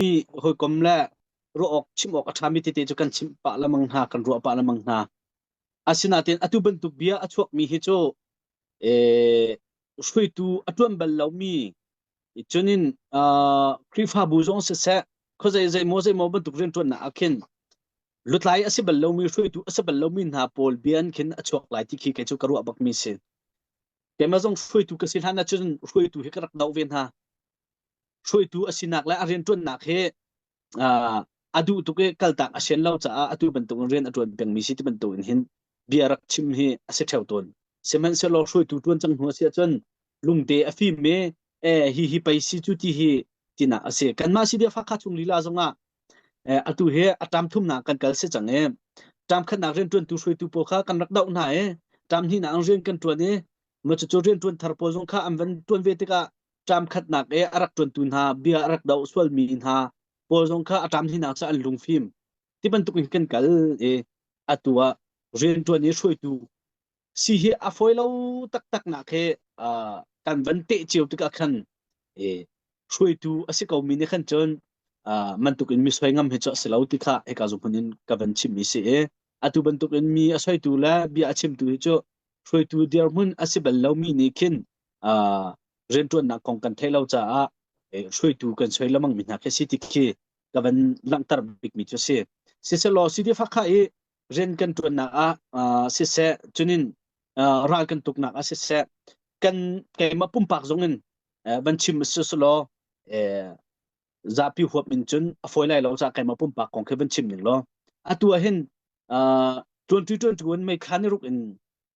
hi hawikom le ruah awk chim awk a ṭhami tete cu kan chimh pah lemang hna, kan ruah pah lemang hna. Asinain atu bantuk bia a chuakmi hi cu eh, hruitu a ṭuan bal lomi cunin uh, Khrihfabu zong siseh khuazei zeimaw zeimaw bantuk rianṭuannak ah khin lutlai a si bal lomi hruitu a si bal lomi hna pawl bia an khin a chuak lai ti khi kei cu ka ruah bakmi si. Keimah zong hruitu ka si hlan ahcun hruitu hi ka rak doh ve hna. hruaitu a sinak le a rianṭuannak hi a duh tuk i kaltak a sian lo caah atu bantukin rian a ṭuan pengmi si ti bantukin hin bia rak chim hi a si ṭheo tawn. Sihmanhsehlaw hruaitu ṭuan cang hnu a si ahcun lungte a fim i e hi hi pei si cu ti hi tinak a si. Kanmah si dia fakha chung lila zongah atu hi a ṭam thumnak kan kal si cang i ṭam khatnak rianṭuantu hruaitu pawl kha kan rak doh hna i ṭam hninak rian kan ṭuan i macucu rianṭuan thar pawl zong kha an van ṭuan ve tikah ṭam khatnak i a rak ṭuantu hna bia a rak doh sualmi hna pawl zong kha a ṭam hlinak cah an lungfim ti bantuk in kan kal i atu ah rianṭuan i hruaitu si hi a fawi lo taktak nak hi kan van teh cio tikah khan i hruaitu a si komi nih khan cun mantuk in mi soi ngam hi cu a si lo ti kha hika zuhmun in ka van chimmi si i atu bantuk in mi a soitu le bia a chimtu hi cu hruaitu dirhmun a si bal lomi nih khin rianṭuannak kong kan theih lo caah hruaitu kan soi lemang mi hna khi si ti khi ka van langhter bikmi cu si siselaw sidi fakha i rian kan ṭuannak ah siseh cunin ral kan tuknak ah siseh kan keimah pumpak zong in van chim siselaw zapi huap in cun a fawi lai lo ca keimah pumpak kong khi van chim ning law atu ah hin ṭuanṭi ṭuanṭu in mei khan i ruk in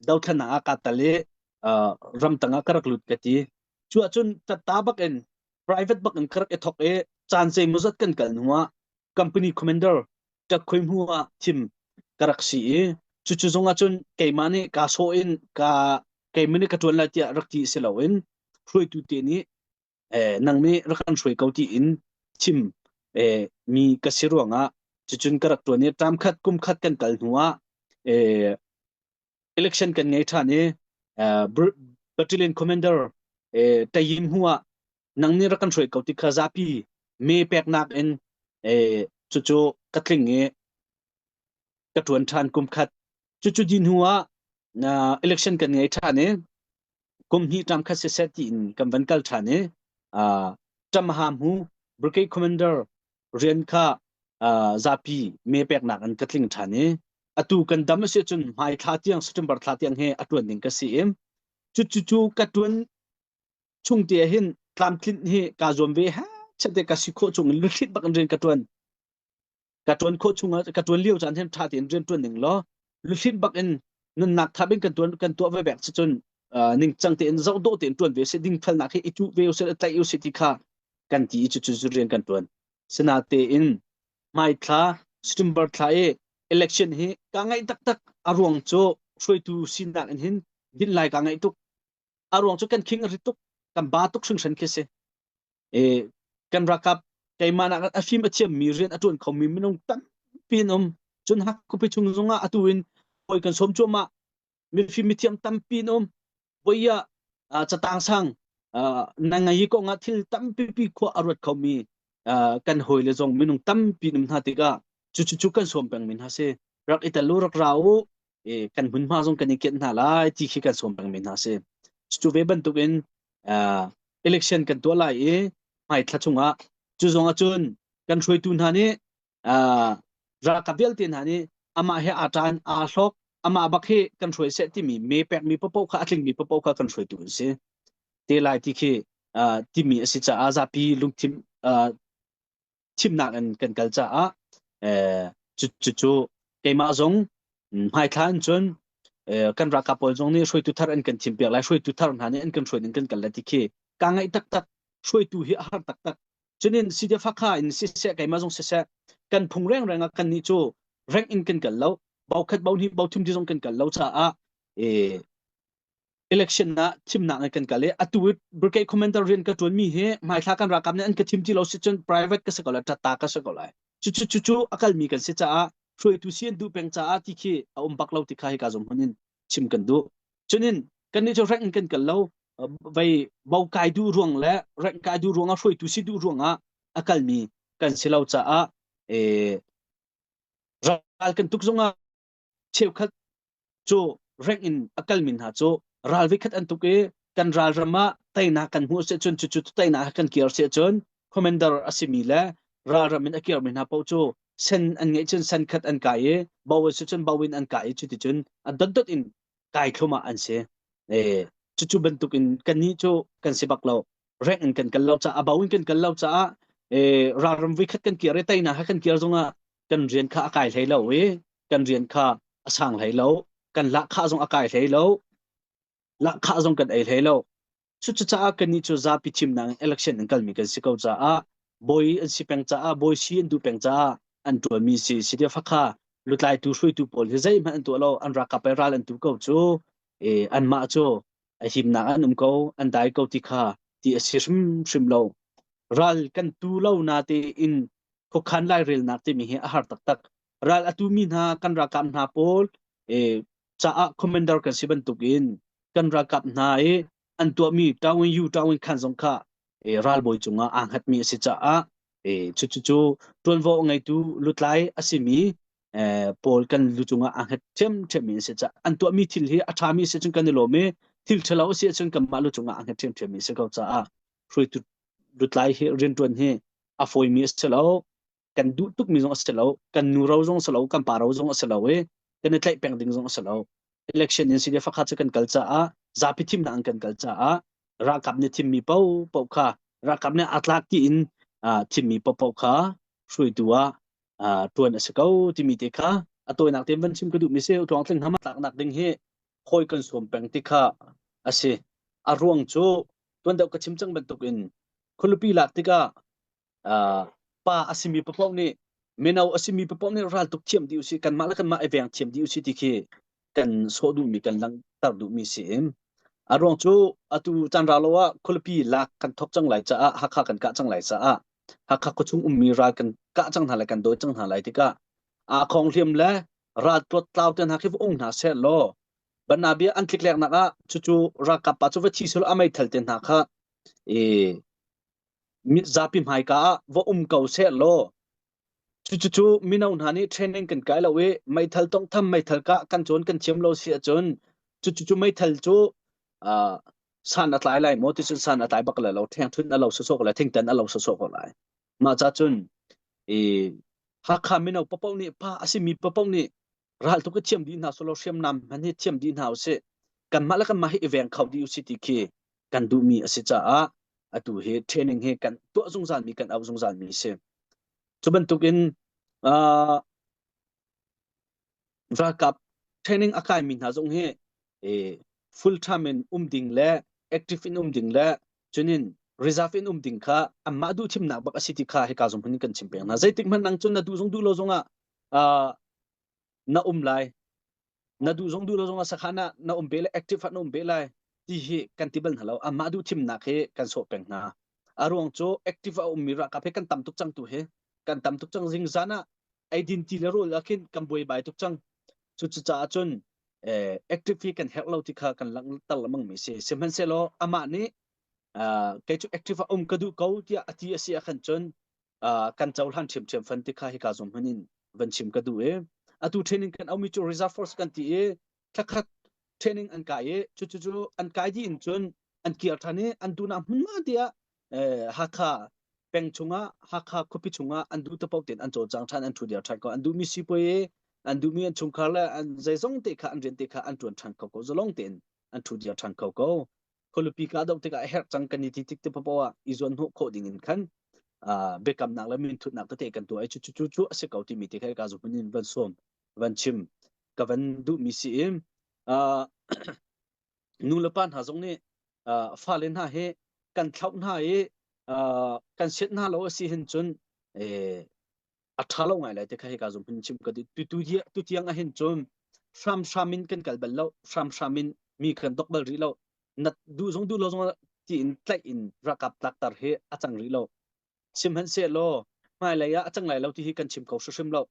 dothlanang ah ka tal i ramtang ah ka rak lut ka ti cu ahcun tatta bak in private bak in ka rak i thok i caan sei muzat kan kal hnu ah company commander ka khoi hnu ah thim ka rak si i cucu zong ahcun keimah nih ka sawh in ka keimah nih ka tuan lai tiah rak ti si loin hruaitu te nih eh, nang me rak kan hruai ko ti in chim eh, mi ka si ruangah cucun ka rak tuan i tam khat kum khat kan kal hnu ah eh, election kan ngei ṭhan i eh, Br- battalion commander eh, tayim hua nang nih rak kan hruai ko ti kha zapi me peknak in eh, cucu ka tling i ka tuan ṭhan kum khat cucu din hnu ah na election kan ngei ṭhan i kum hnih ṭang khat siseh tiin kan van kal ṭhan i ṭamha hmu brigade commander rian kha zapi me peknak in ka tling ṭhan i atu kan dam a si cun hmai thla tiang September thla tiang he a ṭuan ding ka si i cucu ka ṭuan chung te hin tlamtlinh hi ka zuam ve ha chate ka si khawh chung in luthlit bak in rian ka ṭuan ka tuan khawh chung ah ka tuan lio caan hin tha tein rian tuan ning law luhlin bak in nunnak thap in kan tuan kan tuah ve bek cun ning cang tein zau do tein tuan ve se ding phal nak hi i tu ve se tai u se ti kha kan ti chu chu rian kan tuan sina te in mai thla September thla e election hi ka ngai tak tak aruang chu hruaitu sinak in hin din lai ka ngai tuk aruang chu kan king ri tuk kan ba tuk hring hran khi se kan ralkap keimah nak a hrim a thiammi rian a ṭuan khomi minung tampi an um cun hak khupi chung zongah atu in hawi kan sawm cuahmah mifim mithiam tampi an um voia catang sang na ngai ko nga thil tampi pi khua a ruat khomi kan hawi le zong minung tampi nam hna tikah cucu cu kan sawm peng min ha si rak i tel u rak ra u i kan hmunhma zong kan i kianh hna lai ti khi kan sawm pengmi hna si cu ve bantukin election kan tuah lai i hmaithla chungah cu zong ahcun kan hruaitu hna nih ralkap vialte hna nih amah he aa ṭan aa hlawk amah bak hi kan hruai seh timi me pekmi papoh kha a tlingmi papoh kha kan hruaitu an si te lai ti khi timi a si caah zapi lungthin thimnak in kan kal caah cucu keimah zong hmaithla in cun kan ralkap pawl zong nih hruaitu thar an kan thim piak lai hruaitu thar hna nih an kan hruai in kan kal lai ti khi ka ngaih taktak hruaitu hi a har taktak cunin side fakha in siseh keimah zong siseh kan phung reng reng ah kan nih cu reng in kan kal lo bau khat bau ni bau thum ti zong kan kal lo caah e election ah thimnak kan kal i atu brigade commander rian ka tuan mi hi hmaithla kan rakam nih an ka thim ti lo si cun private ka se ko la tatta ka se ko lai cu cu cu a kal mi kan si caah hruaitu si an duh peng caah ti khi a um bak lo ti kha hi ka zum hun in chim kan du chunin kan ni chu rek kan kal lo vai bau kai du ruang le rek kai du ruang a hruaitu si du ruang a akal mi kan si lo caah e ral kan tuk zungah cheukhat cu reng in a kalmi hna cu ral vikhat an tuk i kan ralram ah teinak kan hmuh si cun cucu teinak kan kir si cun commander a simi le ralram in a kirmi hna paoh cu sen an ngeih cun sen khat an kai i bo si cun bo in an kai i cuti cun a dotdot in kai thlum ah an si eh cucu bantuk in kan ni cu kan si bak lo reng in kan kal lo caah a bo in kan kal lo caah eh ralram vikhat kan kir i teinak kan kir zongah kan rian kha a kai hlei lo i kan rian kha a sang hlei lo kan lahkhah zong a kai hlei lo lahkhah zong kan ei hlei lo cucaah kannih cu zapi thimnak in election an kalmi kan si ko caah bawi an si peng caah bawi si an duh peng caah an tuanmi si si dia fakha lutlaitu hruaitu pawl hi zeihmanh an tuah lo an rakap i ral an tu ko cu e anmah cu a himnak an um ko an dai ko ti kha ti a si hrimhrim lo ral kan tu lo na te in khokhan lai relnak timi hi a har taktak ral atu mi hna kan rakam hna pawl e caah commander kan si bantuk in kan rakap hna e an tuahmi tawin yu tawin khan zong kha e ralbawi cungah anghat mi a si caah e chu chu chu tuanvo ngeitu lutlai a simi pawl kan lu cungah a hnget ṭhiamṭhiam mi an si caah an tuahmi thil hi a ṭhami si cun kan i lawm i thil ṭhalo a si cun kanmah lu cungah a hnget ṭhiamṭhiam mi a si ko caah hruaitu lutlai hi rianṭuan hi a fawimi a si lo kan duh tukmi zong a si lo kan nuro zong a si lo kan paro zong a si lo i kan i tlaih peng ding zong a si lo election in si le fakha cu kan kal caah zapi thimnak kan kal caah ralkap nih thimmi popo kha ralkap nih atlak tiin thimmi popo kha hruaitu ah ṭuan a si ko timi te kha a tawinak tein van chim ka duhmi si tluang tling hama tlaknak ding hi hawi kan sawm peng ti kha a si a ruang cu tuan deuh ka chim cang bantuk in khualupi lak tikah pa a simi papoh nih mino a simi papoh nih ral tuk thiam dih usih kanmah le kanmah i veng thiam dih usih ti khi kan sawh duhmi kan langhter duhmi si a ruang cu atu canra lo ah khualipi lak kan thop cang lai caah hakha kan kah cang lai caah hakha khuachung ummi ral kan kah cang hna lai kan dawi cang hna lai tikah aa khong hliam le ral tuat tlau te hna khi va ung hna seh law banabia an tlik lek nak ah cucu ralkap pa cu va thi sul amai thal te hna kha e zapi hmaika ah va um ko seh law Cucucu mino hna nih training kan kai lo i meithal tawnghtham meithal kah kan cawn kan thiam lo si ahcun cucucu meithal cu uh, san a tlai lai maw ti cun san a tlai bak lai lo ṭhengṭhunh a lo sawsawk lai thingtan a lo sawsawk lai mah ca cun i Hakha mino papoh nih pa a simi papoh nih ral tu ka thiam dih hna solo hriamnam hman hi thiam dih hna usih kanmah le kanmah hi i veng kho dih usih ti khi kan duhmi a si caah atu hi training hi kan tuah zungzal mi kan au zungzal mi si cu bantuk in uh, ralkap training a kai mi hna zong hi full time in um ding le active in um ding le cunin reserve in um ding kha amma duh thimnak bak asi ti kha hi ka zong hun kan chim peng na zeitik man nang cun na du zong du lo zong ah na um lai na duh zong duh lo zong a sakhan ah na um ve lai active ah na um ve lai ti hi kan ti bal hna lo amah duh thimnak hi kan sawh peng hna a ruang cu active a ummi rakap hi kan tam tuk cang tu hi kan tam tuk cang zing zan ah identity le role akhin kan buai bai tuk cang cu cucaah cun active hi kan herh lo ti kha kan lang tar lamang mi si sihmanhsehlaw amah nih kei cu active a um ka duh ko tiah a ti a si ah khan cun kan cohlan ṭhiamṭhiam fan ti kha hika zong hman in van chim ka duh i atu training kan aumi cu reserve force kan ti i thlakhat training an kai i cucu cu an kai dih in cun an kir ṭhan i an tu na hmun ma tiah Hakha peng chungah Hakha khuapi chungah an duh tapok tein an cawl cang ṭhan an ṭhu diar ṭhan ko an duhmi sipuai i an duhmi an chungkhar le an zeizong te kha an rian te kha an ṭuan ṭhan ko ko zalong tein an ṭhu diar ṭhan ko ko khualupi ka doh tikah a herh cang kan i ti tik te poah i zuan hnawh khawh ding in khan biakamnak le minthutnak tete kan tuah i cu cu cu a si ko timi te kai ka zu hmun in van suam van chim ka van duhmi si i nu le pa hna zong nih fale hna hi kan thlauh hna i kan siat hna lo a si hin cun a tha lo ngai lai te kha hika zong hun chim ka tu tu tiang a hin cun hram hram in kan kal bal lo hram hram in mi kan dok bal rih lo nat du zong du lo zong ti in tlaih in rakap tak tar hi a cang rih lo sim han se lo hmai lei ah a cang lai lo ti hi kan chim ko hrim lo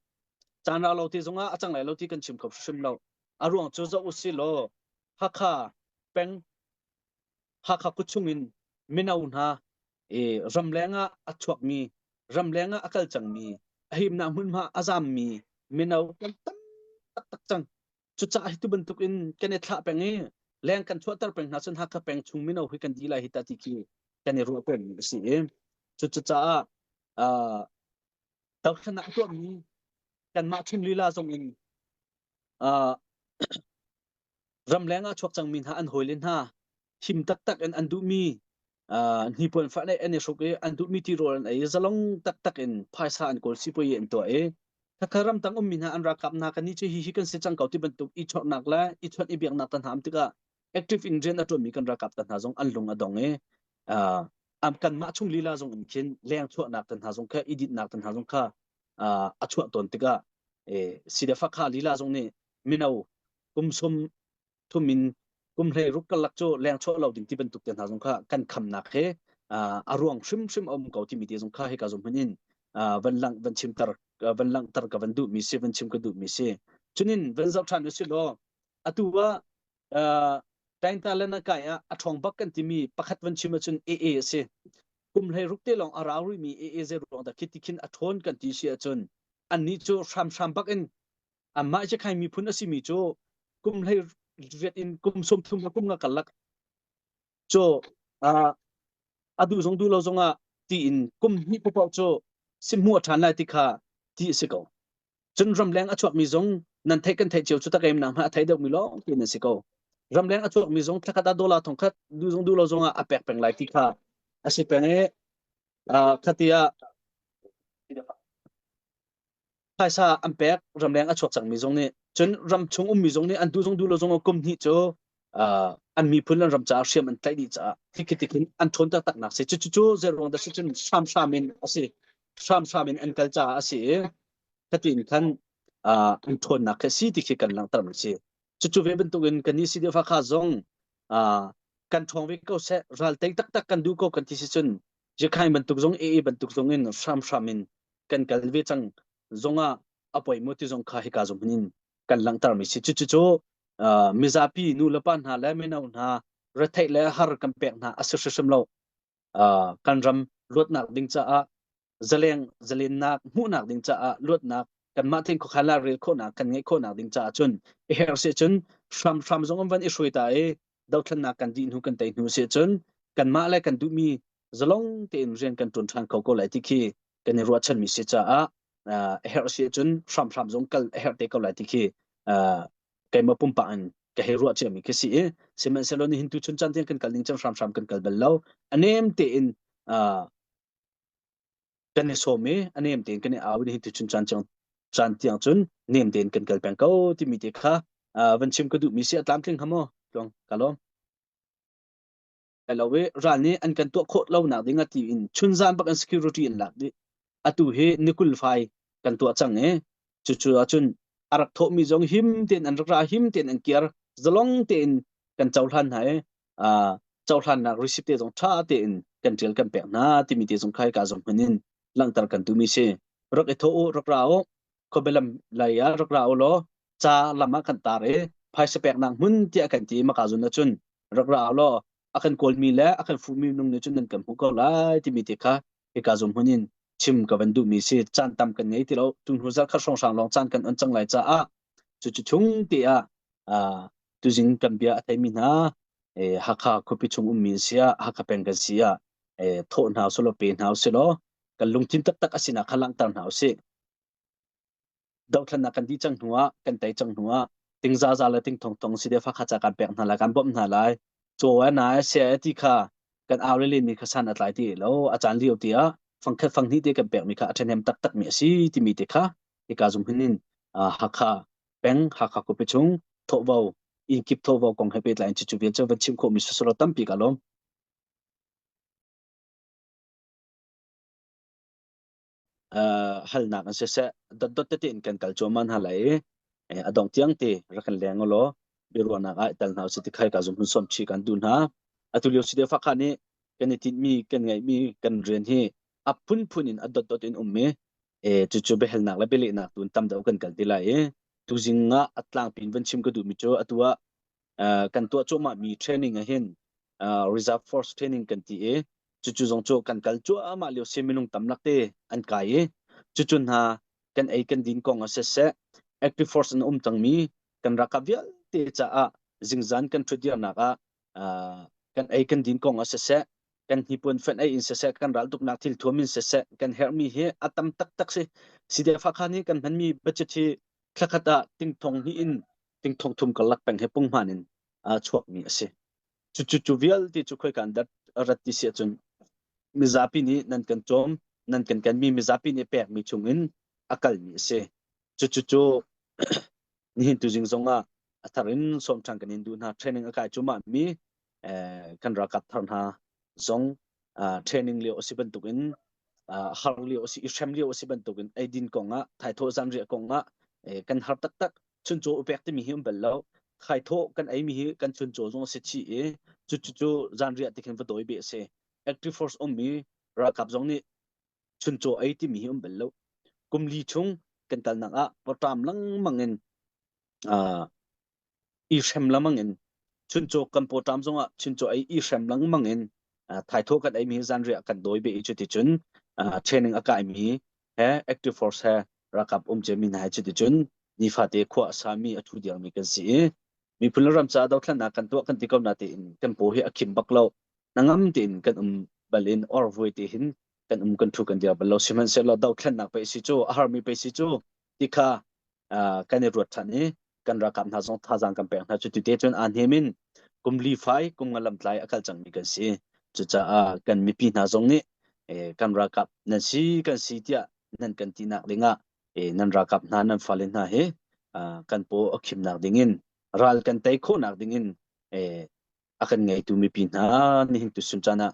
chan ra lo ti zong a cang lai lo ti kan chim ko hrim lo a ruang cu zo u si lo hakha peng Hakha kuchung in mino hna ramleng ah a chuakmi ramleng ah a kal cangmi a himnak hmunhma a zammi mino kan tam taktak cang cucaah hi tu bantuk in kan i thlah peng i leng kan chuahter peng hna cun Hakha peng chung mino hi kan dila hi ta ti khi kan i ruah peng a si i cucaah dohthlan ah tuahmi kanmah chung lila zong in ramleng ah chuak cangmi hna an hawi le hna him taktak in an duhmi hnipuan fah le an i hruk i an duhmi tirawl an ei zalong taktak in phaisa an kawl sipoi an tuah i thakha ram tang ummi hna an rakap hna kan ni cu hihi kan si cang ko ti bantuk i chawrnak le i chawt i biaknak tan ham tikah active ingredient a tuanmi kan rakap ta hna zong an lung a dong i am kan mah chung lila zong in khin leng chuahnak tan hna zong kha i ditnak tan hna zong kha a chuah ton tikah si da fakha lila zong nih mino kum sum thum in kum hlei ruk kalak cu leng chuah lo ding ti bantuk te hna zong kha kan khamnak he a ruang hrimhrim a um ko ti mi te zong kha hika zong hman in van lang van chimter van langhter ka van duh mi si van chim ka duh mi si chunin van zoh than usi law atu wa tainta le na kai a thong bak kan ti mi pakhat van chim cun AA asi kum hlei ruk te long ara ri mi AA ze ruang da khiti khin a thon kan ti si cun an ni cu hram hram bak in Amah hi khai miphun a simi cu kum hlei riat in kum sawmthum ha kum nga karlak cu a duh zong duh lo zong ah tiin kum hnih paoh cu si hmuh a ṭhan lai ti kha ti a si ko. Cun ramleng a chuakmi zong nan theih kan theih cio cu tak em na hma a thei deuhmi lawng tiin an si ko. Ramleng a chuakmi zong thlakhat a dollar thong khat duh zong duh lo zong ah a pek peng lai ti kha a si peng i khati ah phaisa an pek ramleng a chuak cangmi zong nih cun ram chung ummi zong nih an duh zong duh lo zong kum hnih cu an miphun le ram caah hriam an tlaih dih caah tikhitik in an ṭhawn taktaknak si cucu zeruang dah si cun hramhram in a si hramhram in an kal caah a si i khatin khan an ṭhawnnak khi a si ti khi kan langhter a si cucu ve bantukin kan ni si deufa kha zong kan ṭhawng ve ko seh ral tei taktak kan duh ko kan ti si cun Jikhai bantuk zong ee bantuk zong in hramhram in kan kal ve cang zong ah a poi mo ti zong kha hika zong in kan langhter mi si cu cu mizapi nu le pa hna le mino hna retheih le har kan pek hna a si hrim lo kan ram luatnak ding caah zaleng zalennak hmuhnak ding caah luatnak kanmah theng khawkhan la rel khawhnak kan ngeih khawhnak ding caah cun a her se cun hramhram zong an van i hruai ta i dothlannak kan dih hnu kan tei hnu se cun kanmah le kan duhmi zalong tein rian kan tuan than ko ko lai ti khi kan i ruahchan mi si caah a herh si cun hram hram zong kal a herh te ko lai ti khi keima pumpak in ka hei ruah cia mi khi si i sihmanhsehlaw ni hin tu chun chan tiang kan kal ning cang hram hram kan kal bal lo a nem tein kan i sawm i a nem tein kan i au hi tuchun caan cang caan tiang cun nem tein kan kal peng ko timi te kha van chim ka duhmi si a tlamtling ha maw tluang ka lawm elo i ral nih an kan tuah khawh lonak ding a ti in chunzan bak an security an lak dih atu hi nikul fai kan tuah cang e cucu ahcun a rak thawhmi zong him tein an rak ra him tein an kiar zalong tein kan cohlan hna e cohlannak receipt te zong ṭha tein kan ṭial kan pek hna timi te zong khai ka zong hman in langhter kan tumi si rak i tho u rak ra u khobelam lei ah rak ra u law ca lam ah kan tar i phaisa pek nak hmun tiah kan ti maka zun na cun rak ra u law a kan kawlmi le a kan fuhmi nung nih cun nan kan hmu ko lai timi te kha hika zum hun in chim ka van duh mi si caan tam kan ngei ti lo tung hnu zal khat hrawng hrang lawng caan kan on cang lai caah cu cu chung te ah tu jing kan bia a thei mi hna Hakha khuapi chung um mi sia Hakha peng kan sia thawh hna silo pe hna usilaw kan lungthin taktak a sinak kha langhter hna usih dohthlennak kan dih cang hnuah kan tei cang hnuah ting zaza le ting thong tong si deh fa kha ca kan pek hna lai kan bawmh hna lai cho e na e se e ti kha kan aurelin mi kha san atlai ti lo acan lio ti ah fangkhat fanghni te kan pek mi kha athen hem tak tak mi asi timi te kha ika zum hinin hakha peng hakha ku pichung thawvo in kip thawvo kong he petlai in chichu vel cha van chim kho mi susuro tampi ka lom halnak an siseh dotdot tete in kan kal cuahmah hna lai i a dong tiang te rak kan leng ulaw biaruahnak ah tel hna usih ti khai ka zum hun som chi kan du hna atu lio si de fa kha nih kan i tinh mi kan ngaih mi kan rian hi a phunphun in a dotdot in um mi cucu behelnak le belehnak tun tam deuh kan kal ti lai i tuzing ah a tlangpin van chim ka duh mi cu atu ah kan tuah cuahmahmi training ahhin reserve force training kan ti i cucu zong cu kan kal cuahmah lio si minung tamnak te an kai i cucu hna kan ei kan din kong ah siseh active force in um cangmi kan raka vialte caah zingzan kan ṭhutdirnak ah kan ei kan din kong ah siseh kan hnipuan fenh ei in siseh kan ral tuknak thil thuam in siseh kan herhmi hi a tam taktak si si de fakhan hi kan hmanmi budget hi thlakhat ah tingthong hi in ting thong thum kalak peng he pungman in chuak mi asi cu cu vialte cu khoi kan dat rat ti si cun mizapi nih nan kan chom nan kan kan mi mizapi nih pek mi chung in akal mi asi cu cu cu nihin tu jing zong ah a thar in som than kan in du hna training akai chuma mi kan rakap thar hna zong training lio asi bantuk in har lio asi i hrem lio asi bantuk in eidin kong ah thaithaw zan riah kong ah kan har taktak chuncaw upek timi hi um bal lo thaithaw kan ei mi hi kan chuncaw zong asi chi i cu cu zan riah tikhin va dawi be ase active force um mi rakap zong nih chuncaw ei timi hi um bal lo kumli chung kan kal nak ah potam langmang in i hrem lengmang in chuncaw kan pawṭam zongah chuncaw ei i hrem lengmang in thaitho kan ei mi hi zanriah kan dawi ve i cuticun training a kai mi he active force he rakap um ce mi hna hi cuticun nifate khua a sa mi a thu diang mi kan si i miphun le ram caah dothlannak kan tuah kan ti ko na tein tempo hi a khim bak lo nangam tein kan um bal in or vui te hin kan um kan thu kan dia bal lo sihmanhsehlaw dothlannak pe si cu a har mi pe si cu tikha kan i ruat ṭhan i kan ralkap hna zong thazaang kan pek hna cu tute cun aan him in kum li fai kum nga lamtlai a kal cangmi kan si cucaah kan mipi hna zong nih kan ralkap nan si kan si tiah nan kan ti nak dingah nan ralkap hna nan fale hna he kan paw a khimnak dingin ral kan tei khawhnak dingin a kan ngeitu mipi hna nihin tu suncan ah